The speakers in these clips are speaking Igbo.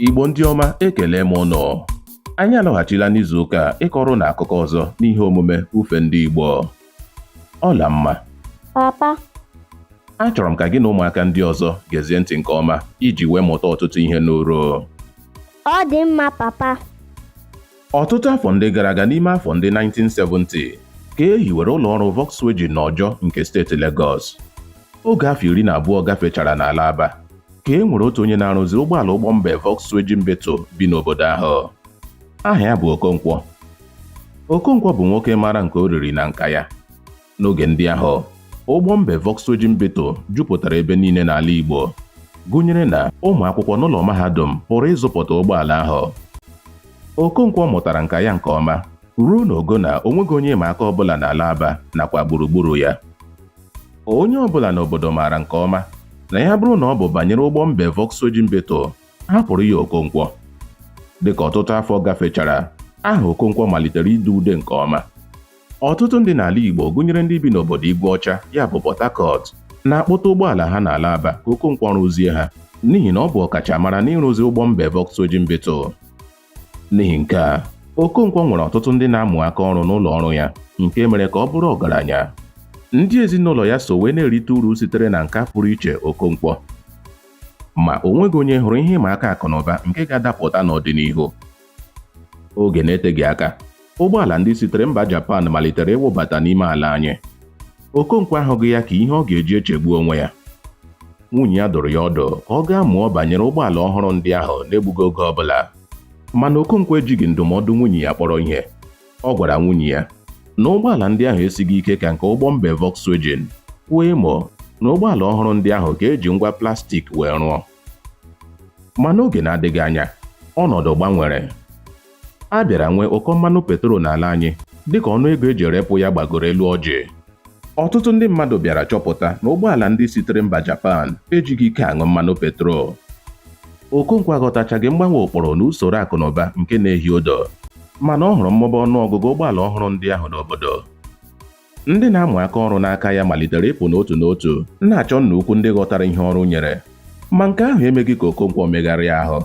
Igbo ndị ọma ekele m ụnụ anyị alọghachila n'izu ụka a ịkọrọ ụnụ akụkọ ọzọ n'ihe omume ufe ndị Igbo Ọlamma papa achọrọ m ka gị na ụmụaka ndị ọzọ gezie ntị nke ọma iji wee mụta ọtụtụ ihe n'uru ọ dị mma papa Ọtụtụ afọ ndị gara aga n'ime afọ ndị 1970 ka e hiwere ụlọ ọrụ Volkswagen n'Ọjọ nke steeti Lagos. Oge afọ iri na abụọ gafechara n'ala Aba ka e nwere otu onye na-arụzi ụgbọala ụgbọ mbe Volkswagen Beetle bi n'obodo ahụ. Aha ya bụ Okonkwo. Okonkwo bụ nwoke mara nke o riri na nka ya. N'oge ndị ahụ, ụgbọ mbe Volkswagen Beetle jupụtara ebe niile n'ala Igbo, gụnyere na ụmụ akwụkwọ n'ụlọ mahadum pụrụ ịzụpụta ụgbọala ahụ. Okonkwo mụtara nka ya nke ọma ruo n'ogo na o nweghị onye ịma aka ọbụla n'ala Aba nakwa gburugburu ya. Onye ọbụla n'obodo maara nke ọma na ya bụrụ na ọ bụ banyere ụgbọ mbe Volkswagen Beetle, hapụrụ ya Okonkwo. Dịka ọtụtụ afọ gafechara, aha Okonkwo malitere ide ude nke ọma. Ọtụtụ ndị n'ala Igbo gụnyere ndị bi n'obodo Igwe Ọcha ya bụ Port Harcourt na-akpọta ụgbọala ha n'ala Aba ka Okonkwo rụzie ha n'ihi na ọ bụ ọkachamara n'ịrụzi ụgbọ mbe Volkswagen Beetle. N'ihi nke a, Okonkwo nwere ọtụtụ ndị na-amụ aka ọrụ n'ụlọ ọrụ ya nke mere ka ọ bụrụ ọgaranya. Ndị ezinụlọ ya so wee na-erite uru sitere na nka pụrụ iche Okonkwo. Ma o nweghị onye hụrụ ihe ịma aka akụnụba nke ga-adapụta n'ọdịnihu. oge na-eteghị aka ụgbọala ndị sitere mba Japan malitere ịwụbata n'ime ala anyị Okonkwo ahụghị ya ka ihe ọ ga-eji echegbu onwe ya nwunye ya dụrụ ya ọdụ ka ọ gaa mụọ banyere ụgbọala ọhụrụ ndị ahụ n'egbughị oge ọ bụla mana Okonkwo ejighị ndụmọdụ nwunye ya kpọrọ ihe ọ gwara nwunye ya na ụgbọala ndị ahụ esighị ike ka nke ụgbọ mbe Volkswagen kwuo emo na ụgbọala ọhụrụ ndị ahụ ka e ji ngwa plastik wee rụọ ma n'oge na-adịghị anya ọnọdụ gbanwere a bịara nwee ụkọ mmanụ petrol n'ala anyị dịka ọnụ ego eji erepụ ya gbagoro elu ọjị ọtụtụ ndị mmadụ bịara chọpụta na ụgbọala ndị sitere mba Japan ejighị ike aṅụ mmanụ petrol Okonkwo aghọtachaghị mgbanwe ụkpụrụ na usoro akụnụba nke na-ehi odo mana ọ hụrụ mmụba ọnụ ọgụgụ ụgbọala ọhụrụ ndị ahụ n'obodo Ndị na-amụ aka ọrụ n'aka ya malitere ịpụ n'otu n'otu, na-achọ nna ukwu ndị ghọtara ihe ọrụ nyere. Ma nke ahụ emeghị ka Okonkwo megharịa ahụ.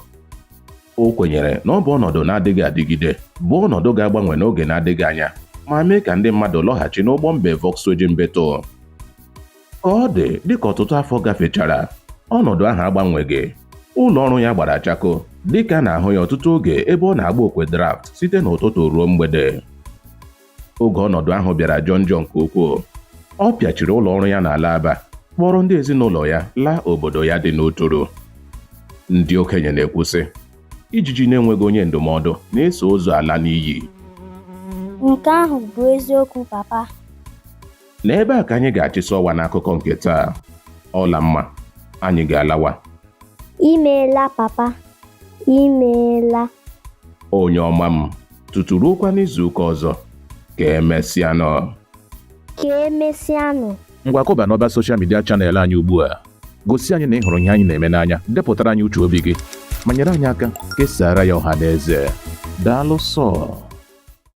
O kwenyere na ọ bụ ọnọdụ na-adịghị adịgide, bụ ọnọdụ ga-agbanwe n'oge na-adịghị anya, ma mee ka ndị mmadụ lọghachi n'ụgbọ mbe Volkswagen Beetle. Ka ọ dị, dịka ọtụtụ afọ gafechara, ọnọdụ ahụ agbanweghị. Ụlọ ọrụ ya gbara chakoo, dịka a na-ahụ ya ọtụtụ oge ebe ọ na-agba okwe draft site n'ụtụtụ ruo mgbede. oge ọnọdụ ahụ bịara jọọ njọ nke ukwuu ọ pịachiri ụlọ ọrụ ya n'ala Aba kpọrọ ndị ezinụlọ ya laa obodo ya dị n'Uturu ndị okenye na-ekwu sị ijiji na-enweghị onye ndụmọdụ na-eso ozu ala n'iyi nke ahụ bụ eziokwu papa na ebe a ka anyị ga-achịsị ọwa n'akụkọ nke taa Ọlamma anyị ga-alawa imeela papa imeela onye ọma m tutu ruokwa n'izuụka ọzọ ka emesịanụ ka emesịanụ ngwa kụba n'ọba soshal midia chanel anyị ugbu a gosi anyị na ị hụrụ ihe anyị na-eme n'anya depụtara anyị uche obi gị ma nyere anyị aka kesaara ya ọha na eze daalụ sọ